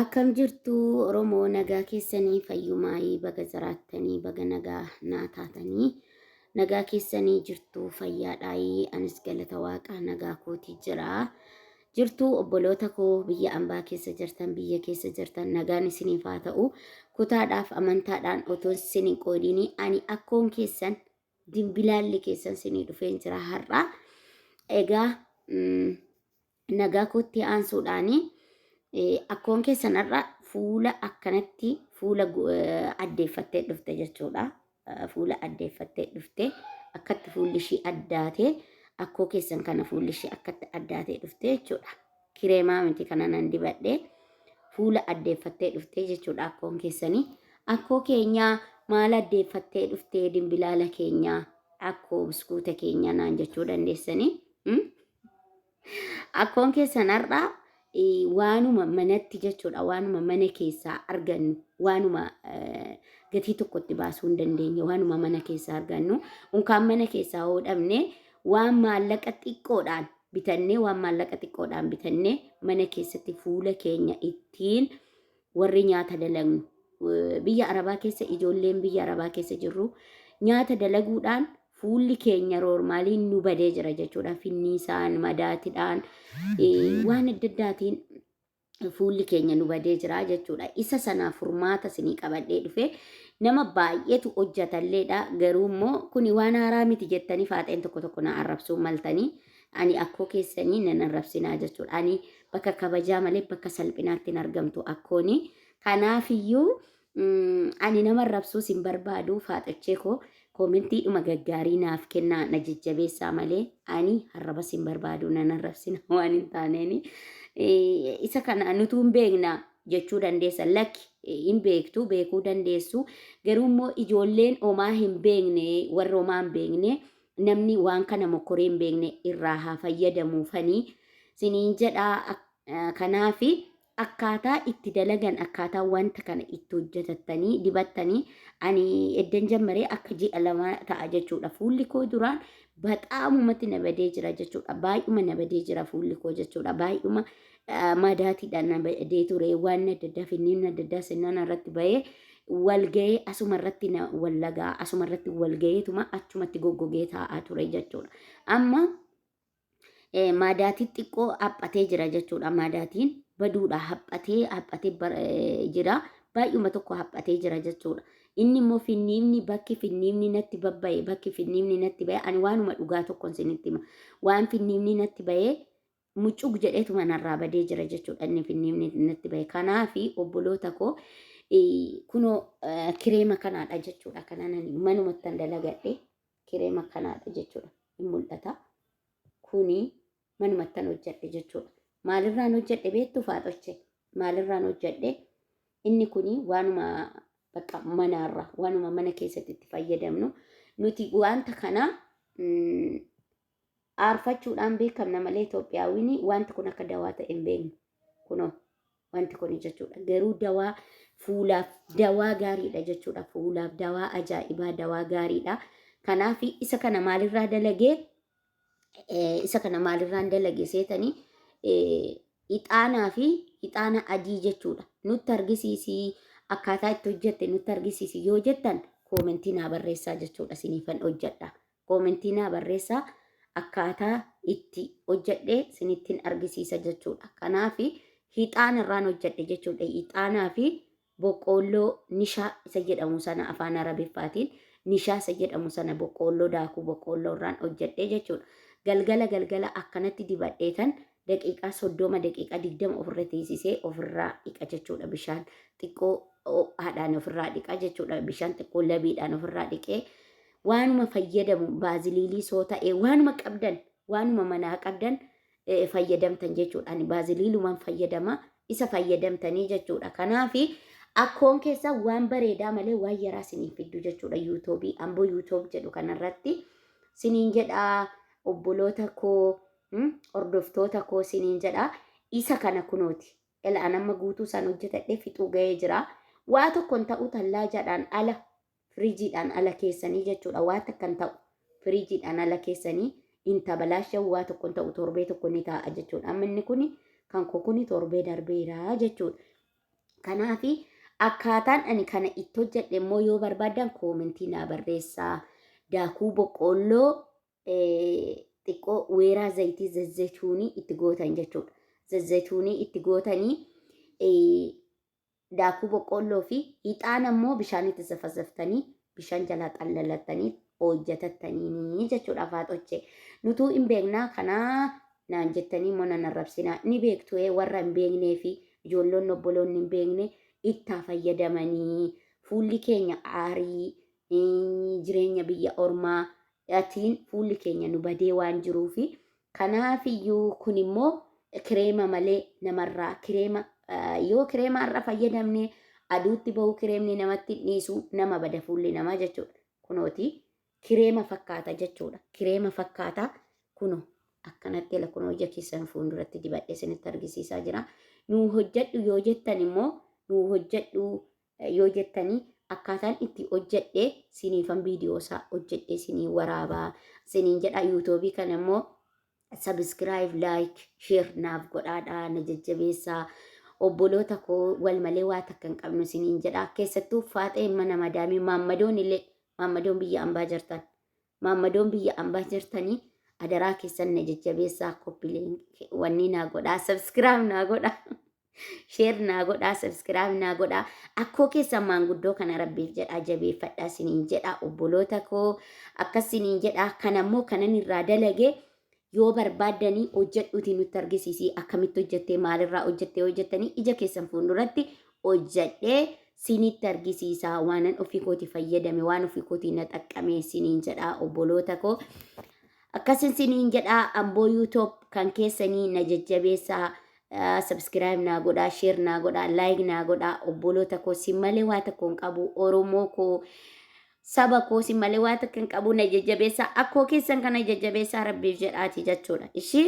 Akkam jirtu Oromoo nagaa keessanii fayyumaayii baga jiraattanii baga nagaa naa taatanii nagaa keessanii jirtu fayyaadhaayii anis galata waaqa nagaa kootii jira. Jirtu obboloota koo biyya ambaa keessa jirtan biyya keessa jirtan nagaan isiniif haa ta'u kutaadhaaf amantaadhaan otoo isin hin qoodinii ani akkoon keessan Dimbilaalli keessan sinii dhufeen jira har'a. Egaa nagaa kootti aansuudhaan akkoon keessan har'a fuula akkanatti fuula addeeffattee dhufte jechuudha. Fuula addeeffattee dhufte akkatti fuulli ishii addaatee akkoo keessan kana fuulli ishii akkatti addaatee dhufte jechuudha. Kireemaa miti kana nan dibadhe. Fuula addeeffattee dhuftee jechuudha akkoon keessanii. Akkoo keenyaa maal addeeffattee dhuftee dimbilaala keenyaa akkoo buskuuta keenyaa naan jechuu dandeessanii. Mm? Akkoon keessan har'aa eh, waanuma manatti jechuudha waanuma mana keessaa argannu waanuma eh, gatii tokkotti baasuu hin dandeenye waanuma mana keessaa argannu unkaan mana keessaa hodhamne waan maallaqa xiqqoodhaan bitannee waan maallaqa xiqqoodhaan bitannee mana keessatti fuula keenya ittiin warri nyaata dalagnu eh, biyya arabaa keessa ijoolleen biyya arabaa keessa jirru nyaata dalaguudhaan fuulli keenya roormaaliin nu badee jira jechuudha finniisaan madaatidhaan eh, waan adda addaatiin fuulli keenya nu badee jira jechuudha. Isa sanaa furmaata isinii qabadhee dhufe nama baay'eetu hojjatalleedha garuu immoo kuni waan haaraa miti jettanii faaxeen tokko tokko na arrabsuu maltanii ani akkoo keessanii nan arrabsinaa jechuudha. Ani bakka kabajaa malee bakka salphinaatti hin argamtu akkooni. Kanaafiyyuu Ani nama arrabsuus hin barbaadu faaxochee koo koomentii dhuma gaggaarii naaf kennaa na jajjabeessaa malee ani arrabas hin barbaadu nan arrabsina waan hin taaneeni. Isa kana nutuu hin beekna jechuu dandeessa lakki hin beektu beekuu dandeessu garuu immoo ijoolleen homaa hin beekne warri homaa hin beekne namni waan kana mokkoree hin beekne irraa haa fayyadamuufanii siniin jedhaa kanaafi Akkaataa itti dalagan akkaataa wanta kana itti hojjetattanii dibattanii ani eddan jammaree akka ji'a lama ta'a jechuudha fuulli koo duraan baxaamumatti na badee jira jechuudha baay'uma na badee jira fuulli koo jechuudha baay'uma ah, madaatiidha na badee ture waan adda addaa finniin adda addaa sennaan irratti bahee walga'ee asuma irratti na wallagaa asuma irratti walga'eetuma achumatti goggogee taa'aa ture jechuudha amma Eh, maadaatiin xiqqoo haphatee jira jechuudha. Maadaatiin baduudha haphatee haphatee bar- eh, jira. Baay'uma tokko haphatee jira jechuudha. Inni immoo finniifni bakki finniifni natti babba'e bakki finniifni natti ba'e ani waanuma dhugaa tokkon isinitti hima. Waan finniifni natti ba'e mucuq jedheetuma narraa badee jira jechuudha inni finniifni natti ba'e. Kanaafi obboloota koo eh, kunoo eh, kireema kanaadha jechuudha. Kanaan ani manumattan dalagadhe. kireema kanaadha jechuudha hin mul'ata kuni manumattan hojjedhe jechuudha maalirraan hojjedhe beektu faaxoche maalirraan hojjedhe inni kuni waanuma bakka manaarra waanuma mana keessatti itti fayyadamnu nuti wanta kana aarfachuudhaan beekamna malee Itoophiyaawwini wanti kun akka dawaa ta'e hin beeknu. Kunoo wanti kun jechuudha. Garuu dawaa fuulaaf dawaa gaariidha jechuudha. Fuulaaf dawaa ajaa'ibaa dawaa gaariidha. Kanaaf isa kana maalirraa dalagee isa kana maalirraan dalage seetanii ixaanaa fi ixaana adii jechuudha. Nutti argisiisi akkaataa itti hojjette nutti argisiisi yoo jettan koomentii naa barreessaa jechuudha siniifan hojjedha. Koomentii naa barreessaa akkaataa itti hojjedhe sinittin argisiisa jechuudha. Kanaaf hixaana irraan hojjedhe jechuudha. Hixaanaa fi boqqoolloo nishaa isa jedhamu sana afaan arabiffaatiin nishaa isa jedhamu sana boqqoolloo daakuu boqqoolloo irraan hojjedhe jechuudha. Galgala galgala akkanatti dibadheetan daqiiqaa soddoma daqiiqaa digdama ofirra teessisee ofirraa dhiqa jechuudha bishaan xiqqoo haadhaan ofirraa dhiqa jechuudha bishaan xiqqoo labiidhaan ofirraa dhiqee waanuma fayyadamu baaziliilii soo ta'e waanuma qabdan waanuma manaa qabdan eh, fayyadamtan jechuudha. Ani baaziliilumaan fayyadama isa fayyadamtanii jechuudha. Kanaafi akkoon keessaa waan bareedaa malee waan yaraa siniin fiddu jechuudha yuutuubii amboo yuutuub jedhu kanarratti siniin jedhaa obboloota koo mm, hordoftoota koo siniin jedhaa isa kana kunooti. Ela an amma guutuu isaan hojjetadhee fixuu ga'ee jira. Waa tokkon ta'uu tallaajaadhaan ala Firiijiidhaan ala keessanii jechuudha waa takka hin ta'u. Firiijiidhaan ala keessanii hin tabalaashawu waa tokko hin ta'u torbee tokko ni taa'a jechuudha. Amma inni kuni kan koo kuni torbee darbeera jechuudha. Kanaafi akkaataan ani kana itti hojjedhe immoo yoo barbaadan koomentii naa barreessaa. Daakuu boqqoolloo eh, xiqqoo weeraa zayitii zazzetuunii itti gootan jechuudha. Zazzetuunii itti gootanii eh, daakuu boqqoolloo fi hixaana immoo bishaanitti zafazaftanii bishaan jalaa xallalattanii hojjatattaniini jechuudha faaxochee. Nutuu hin beeknaa kanaa naan jettanii immoo nan arrabsinaa ni beektu ee warra hin beeknee fi ijoolloonni obboloonni hin beekne ittaa fayyadamanii fuulli keenya aarii eh, jireenya biyya ormaa atiin fuulli keenya nu badee waan jiruu fi Kanaaf iyyuu kun immoo kireema malee namarraa kireema yoo kireema har'a fayyadamne aduutti bahuu kireemni namatti hin dhiisu nama bada fuulli namaa jechuudha. Kunooti kireema fakkaata jechuudha. Kireema fakkaata kuno akkanatti ila kunoo ija keessan fuulduratti dibadhe isinitti argisiisaa jira. Nuu hojjedhu yoo jettan immoo nuu hojjedhu yoo jettanii akkaataan itti hojjedhe siniifan viidiyoo isaa hojjedhe sinii waraabaa siniin jedha yuutuubii kana immoo sabiskiraayib laayik sheer naaf godhaadha na jajjabeessaa obboloota koo wal malee waa takka hin qabnu siniin jedha keessattuu faaxee mana madaamii maammadoon illee maammadoon biyya ambaa jirtan maammadoon biyya ambaa jirtanii adaraa keessan na jajjabeessaa koppileen wanni naa godhaa sabiskiraayib naa godhaa. Sheer naa godhaa, sabskiraayib naa godhaa. Akkoo keessan maanguddoo kana rabbiif jedhaa jabeeffadhaa siniin jedhaa obboloota koo akkas siniin jedhaa kan ammoo kanan irraa dalage yoo barbaaddanii hojjedhuutii nutti argisiisii akkamitti hojjettee maalirraa hojjettee hojjettanii ija keessan fuulduratti hojjedhee sinitti argisiisaa waanan ofii kootii fayyadame waan ofii kootii na xaqqamee siniin jedhaa obboloota koo. Akkasin siniin jedhaa amboo yuutoob kan keessanii na jajjabeessaa Subscribe naa godhaa, share naa godhaa, like naa godhaa. Obboloota koo sin malee waa tokko hin qabu. Oromoo koo saba koo sin malee waa tokko hin qabu na jajjabeessaa. Akkoo keessan kana jajjabeessaa rabbiif jedhaati jechuudha. Ishii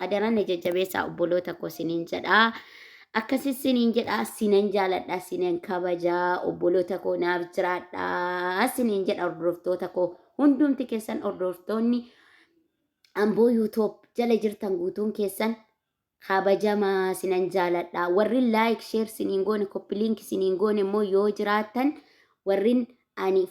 adara na jajjabeessaa obboloota koo siniin jedhaa. Akkasi siniin jedhaa sinan jaaladhaa sinan kabajaa obboloota koo naaf jiraadhaa siniin jedha hordoftoota koo hundumti keessan hordoftoonni Amboo yuutoob jala jirtan guutuun keessan kabajamaa sinan jaaladha. Warrin laayik sheer siniin goone koppi liinki siniin goone immoo yoo jiraattan warrin ani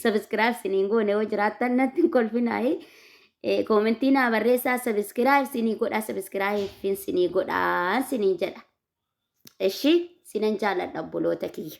sabiskiraayib siniin goone yoo jiraattan natti hin kolfinaayi. Koomentii naa barreessaa sabiskiraayib sinii godhaa sabiskiraayibin sinii godhaa siniin jedha. Eshi sinan jaaladha obboloota kiyya.